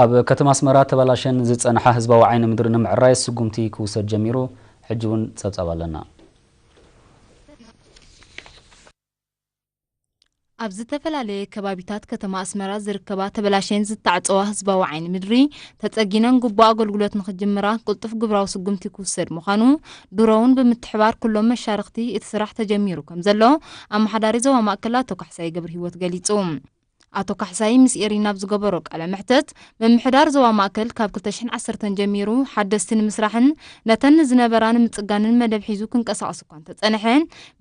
ኣብ ከተማ ኣስመራ ተባላሸን ዝጸንሓ ህዝባዊ ዓይኒ ምድሪ ንምዕራይ ስጉምቲ ክውሰድ ጀሚሩ፣ ሕጂ እውን ጸብጻብ ኣለና። ኣብ ዝተፈላለየ ከባቢታት ከተማ ኣስመራ ዝርከባ ተበላሽየን ዝተዓጸዋ ህዝባዊ ዓይኒ ምድሪ ተጸጊነን ግቡእ ኣገልግሎት ንኽጅምራ ቅልጡፍ ግብራዊ ስጉምቲ ክውሰድ ምዃኑ ድሮውን ብምትሕባር ኩሎም መሻርኽቲ እቲ ስራሕ ተጀሚሩ ከምዘሎ ኣመሓዳሪ ዞባ ማእከል ኣቶ ካሕሳይ ገብርሂወት ገሊጹ። ኣቶ ካሕሳይ ምስ ኤሪና ኣብ ዝገበሮ ቃለ መሕተት፣ ምምሕዳር ዞባ ማእከል ካብ ክልተ ሽሕን ዓሰርተን ጀሚሩ ሓደስቲ ንምስራሕን ነተን ዝነበራ ንምጽጋንን መደብ ሒዙ ክንቀሳቐስ እኳ እንተጸንሐ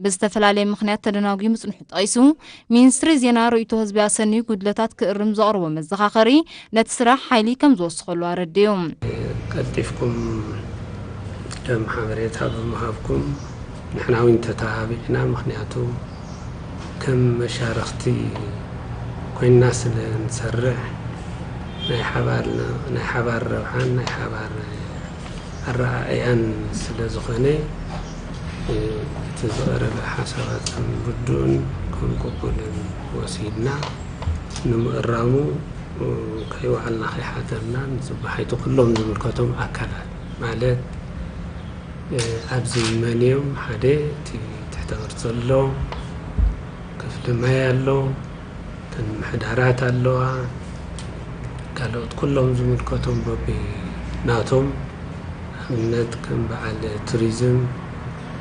ብዝተፈላለየ ምኽንያት ተደናጉዩ ምጽንሑ ጠቒሱ ሚንስትሪ ዜና ርእይቶ ህዝቢ ኣሰንዩ ጉድለታት ክእርም ዘቕረቦ መዘኻኸሪ ነቲ ስራሕ ሓይሊ ከም ዝወስኸሉ ኣረዲኡ። ቀልጢፍኩም ደም ሓበሬታ ብምሃብኩም ንሕና ውን ተተባቢዕና ምኽንያቱ ከም መሻርኽቲ ኮይንና ስለ እንሰርሕ ናይ ሓባር ረብሓን ናይ ሓባር ኣረኣእያን ስለ ዝኾነ እቲ ዝቐረበ ሓሳባትኩም ርዱእን ከም ቅቡልን ወሲድና ንምእራሙ ከይወዓልና ከይሓደርናን ዝበሓይቱ ኩሎም ዝምልከቶም ኣካላት ማለት ኣብዚ መን እዮም ሓደ እቲ ትሕተ ቅርፂ ኣሎ ክፍሊ ማይ ኣሎ እተን ምሕዳራት ኣለዋ ካልኦት ኩሎም ዝምልከቶም በቢ ናቶም ኣብነት ከም በዓል ቱሪዝም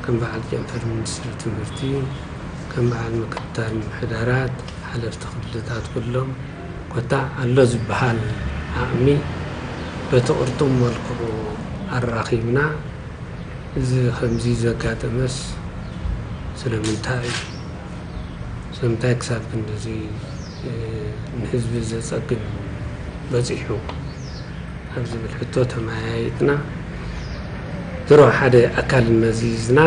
ከም በዓል ጨንፈር ሚኒስትሪ ትምህርቲ ከም በዓል ምክትታል ምሕዳራት ሓለፍቲ ክልታት ኩሎም ኮታ ኣሎ ዝበሃል ዓቕሚ በቲ ቅርጡም መልክዑ ኣራኺብና እዚ ከምዚ ዘጋጠመስ ስለምንታይ እዩ? ስለምንታይ ክሳብ ክንድዚ ንህዝቢ ዘጸግም በጺሑ? ኣብ ዝብል ሕቶ ተመያይጥና ድሮ ሓደ ኣካል መዚዝና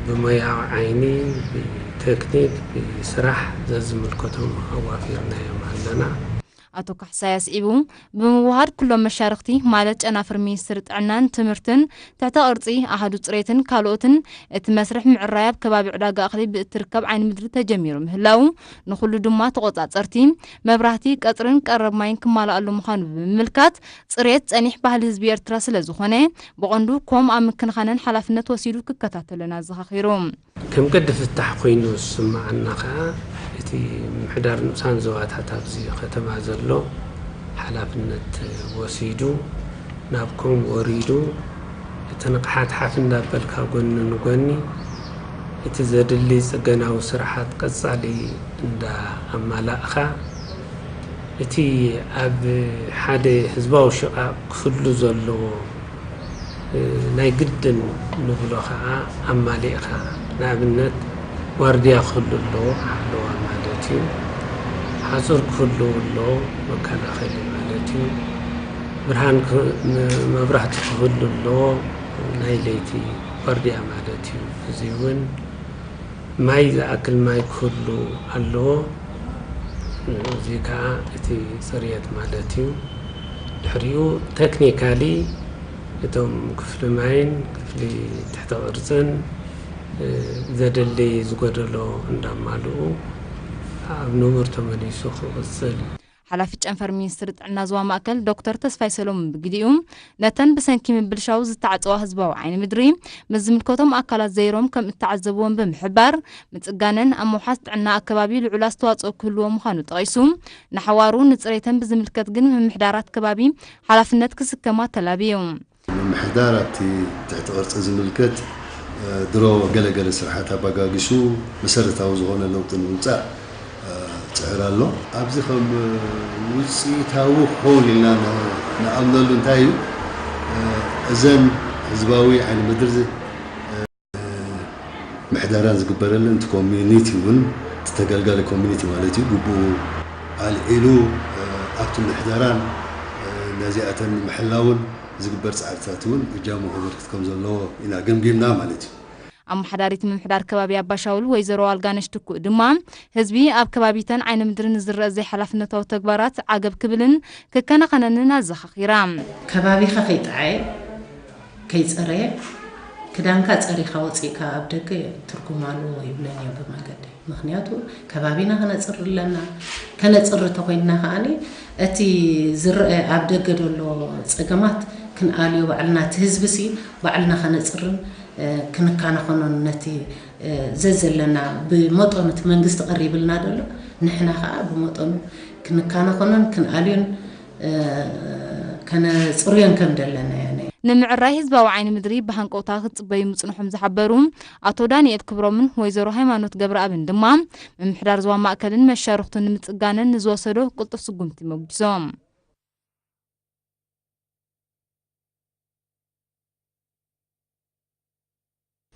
ብሞያዊ ዓይኒ ቴክኒክ ስራሕ ዘዝምልከቶም ኣዋፊርናዮም ኣለና። ኣቶ ካሕሳይ ኣስዒቡ፣ ብምውህሃድ ኩሎም መሻርኽቲ ማለት ጨናፍር ሚኒስትሪ ጥዕናን ትምህርትን፣ ትሕተ ቅርጺ፣ ኣሃዱ ጽሬትን ካልኦትን፣ እቲ መስርሕ ምዕራይ ኣብ ከባቢ ዕዳጋ እኽሊ ብእትርከብ ዓይኒ ምድሪ ተጀሚሩ ምህላዉ፣ ንኹሉ ድማ ተቖጻጸርቲ፣ መብራህቲ፣ ቀጽሪን ቀረብ ማይን ክማላኣሉ ምዃኑ ብምምልካት፣ ጽሬት ጸኒሕ ባህሊ ህዝቢ ኤርትራ ስለዝኾነ፣ ብቐንዱ ኮም ኣብ ምክንኻንን ሓላፍነት ወሲዱ ክከታተሎን ኣዘኻኺሩ። ከም ገዲ ፍታሕ ኮይኑ ዝስመዓና ከኣ እቲ ምምሕዳር ንኡሳን ዞባታት ኣብዚ ከተማ ዘሎ ሓላፍነት ወሲዱ ናብ ኮም ወሪዱ እቲ ንቕሓት ሓፍ እንዳበልካ ጎኒ ንጎኒ እቲ ዘድሊ ጽገናዊ ስራሓት ቀጻሊ እንዳ ኣማላእካ እቲ ኣብ ሓደ ህዝባዊ ሽቓቕ ክፍሉ ዘለዎ ናይ ግድን ንብሎ ከኣ ኣማሊእካ ንኣብነት ዋርድያ ክህሉ ኣለዎ ሓለዋ ማለት እዩ ሓጹር ክህልው ኣለዎ መከላኸሊ ማለት እዩ ብርሃን መብራህቲ ክህሉ ኣለዎ ናይ ለይቲ ዋርድያ ማለት እዩ እዚ ውን ማይ ዝኣክል ማይ ክህሉ ኣለዎ። እዚ ከኣ እቲ ጽርየት ማለት እዩ። ድሕሪኡ ተክኒካሊ እቶም ክፍሊ ማይን ክፍሊ ትሕተ ቅርጽን ዘድሊ ዝጎደሎ እንዳማልኡ ኣብ ንቡር ተመሊሱ ክቕጽል። ሓላፊ ጨንፈር ሚኒስትሪ ጥዕና ዞባ ማእከል ዶክተር ተስፋይ ሰሎሙን ብግዲኡ፣ ነተን ብሰንኪ ምብልሻው ዝተዓጸዋ ህዝባዊ ዓይኒ ምድሪ፣ ምስ ዝምልከቶም ኣካላት ዘይሮም ከም እተዓዘብወን ብምሕባር፣ ምጽጋነን ኣብ ምውሓስ ጥዕና ኣከባቢ ልዑል ኣስተዋጽኦ ክህልዎ ምዃኑ ጠቒሱ፣ ንሓዋሩ ንጽሬተን ብዝምልከት ግን ምምሕዳራት ከባቢ ሓላፍነት ክስከማ ተላብዩ። ምምሕዳር ኣብቲ ትሕቲ ቅርፂ ዝምልከት ድሮ ገለ ገለ ስርሓት ኣባጋጊሱ መሰረታዊ ዝኾነ ለውጢ ንምምፃእ ፅዕር ኣሎ። ኣብዚ ከም ውፅኢታዊ ክኸውን ኢልና ንኣምነሉ እንታይ እዩ? እዘን ህዝባዊ ዓይኒ ምድሪ፣ ምሕደራን ዝግበረለን እቲ ኮሚኒቲ እውን እቲ ተገልጋሊ ኮሚኒቲ ማለት እዩ ግቡኡ ኣልዒሉ ኣብቲ ምሕደራን ነዚኣተን ንምሕላውን ዝግበር ፃዕርታት እውን እጃሙ ከበርክት ከም ዘለዎ ኢና ገምጊምና ማለት እዩ። ኣመሓዳሪት ምምሕዳር ከባቢ ኣባሻውል ወይዘሮ ኣልጋነሽ ትኩእ ድማ ህዝቢ ኣብ ከባቢተን ዓይኒ ምድሪ ንዝረኣ ዘይሓላፍነታዊ ተግባራት ዓገብ ክብልን ክከናኸነንን ኣዘኻኺራ። ከባቢኻ ከይጠዓየ ከይጸረየ ክዳንካ ጸሪኻ ወጺእካ ኣብ ደገ ትርጉማሉ ይብለንዮ ብመገዲ ምኽንያቱ ከባቢና ክነጽሪ ኣለና ከነጽሪ ተኾይንና ከኣ እቲ ዝረኣ ኣብ ደገ ዘሎ ጸገማት ክንኣልዮ ባዕልና እቲ ህዝቢሲ ባዕልና ከነጽርን ክንካናኸኖን ነቲ ዘዘለና ብመጠኑ እቲ መንግስቲ ቀሪብልና ዘሎ ንሕና ከኣ ብመጠኑ ክንካናኸኖን ክንኣልዮን ከነፅርዮን ከም ደለና እያ ናይ ንምዕራይ ህዝባዊ ዓይኒ ምድሪ ብሃንቀውታ ክትፅበዩ ምፅንሖም ዝሓበሩ ኣቶ ዳኒኤል ክብሮምን ወይዘሮ ሃይማኖት ገብረኣብን ድማ ምምሕዳር ዞባ ማእከልን መሻርኽቱ ንምፅጋነን ንዝወሰዶ ቅልጡፍ ስጉምቲ መጒሶም።